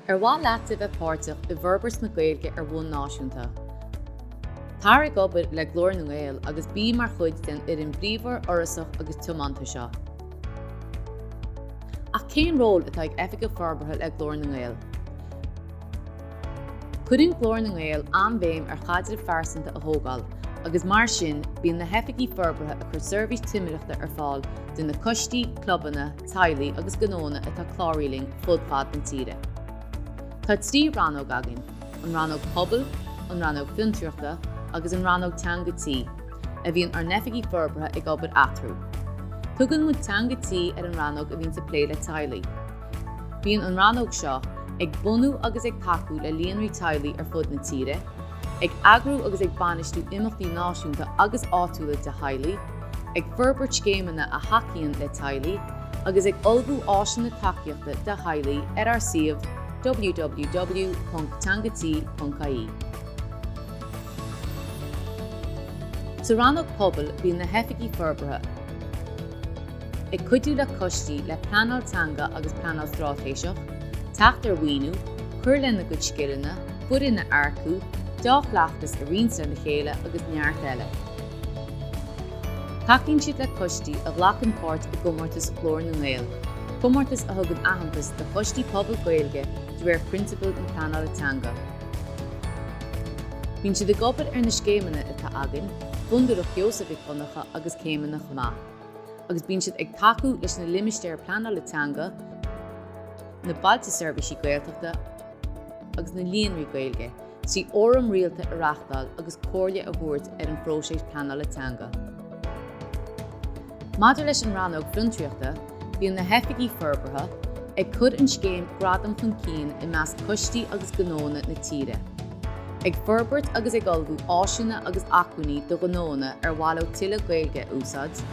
Ar mhaith leat a bheith páirteach i bhforbairt na Gaeilge ar bhonn náisiúnta? Tar ag obair le Glór na nGael agus bí mar chuid den fhoireann bhríomhar, fhorasach agus tiomanta seo. Ach cén ról atá ag Oifigeach Forbartha le Glór na nGael? Cuireann Glór na nGael an-bhéim ar chaidrimh phearsanta a thógáil agus mar sin bíonn na hOifigigh Forbartha ag cur seirbhís timireachta ar fáil do na coistí, clubanna, teaghlaigh agus gnóanna atá cláraithe linn fud fad na tíre. Tá trí rannóg againn, an Rannóg Pobail, an Rannóg Fiontraíochta agus an Rannóg Teanga Tí, a bhíonn ár n-oifigigh forbartha ag obair eatarthu. Tugann muid Teanga Tí ar an rannóg a bhíonns ag plé le teaghlaigh. Bíonn an rannóg seo ag bunú agus ag tacú le líonraí teaghlaigh ar fud na tíre, Ag eagrú agus ag bainistiú imeachtaí náisiúnta agus áitiúla do theaghlaigh, ag forbairt scéimeanna a thacaíonn le teaghlaigh, agus ag ullmhú áiseanna tacaíochta do theaghlaigh ar ár suíomh www.teangatí.ie. Sa Rannóg Pobail bíonn na hOifigigh Forbartha ag cuidiú le coistí le pleanáil teanga agus pleanáil straitéiseach, teacht ar mhaoiniú, cur lena gcuid scileanna, foireann a earcú, dea-chleachtas a roinnt ar a chéile agus neart eile. Tacaíonn siad le coistí a ghlacann páirt i gcomórtas Ghlór na nGael, comórtas a thugann aitheantas do choistí pobail Gaeilge de réir prionsabail na pleanála teanga. Bíonn siad ag obair ar na scéimeanna atá againn, Fondúireacht Sheosaimh Mhic Dhonncha agus céimeanna chomh maith, agus bíonn siad ag tacú leis na Limistéir Pleanála Teanga, na Bailte Seirbhísí Gaeltachta, agus na Líonraí Gaeilge, trí fhóram rialta a reáchtáil agus comhairle a thabhairt ar an phróiseas pleanála teanga. Maidir leis an rannóg fiontraíochta, bíonn na hOifigigh Forbartha ag cur an scéim Gradam chun cinn i measc coistí agus gnóanna na tíre, ag forbairt agus ag ullmhú áiseanna agus acmhainní do ghnóanna ar mhaith leo tuilleadh Gaeilge a úsáid,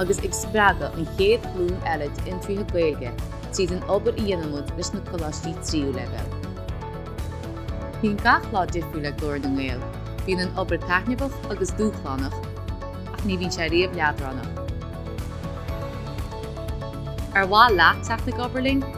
agus ag spreagadh an chéad ghlúin eile d'fhiontraithe Gaeilge tríd an obair a dhéanaimid leis na coláistí tríú leibhéal. Bíonn gach lá difriúil le Glór na nGael, bíonn an obair taitneamhach agus dúshlánach ach ní bhíonn sé riamh leadránach. Ar mhaith leat teacht ag obair linn?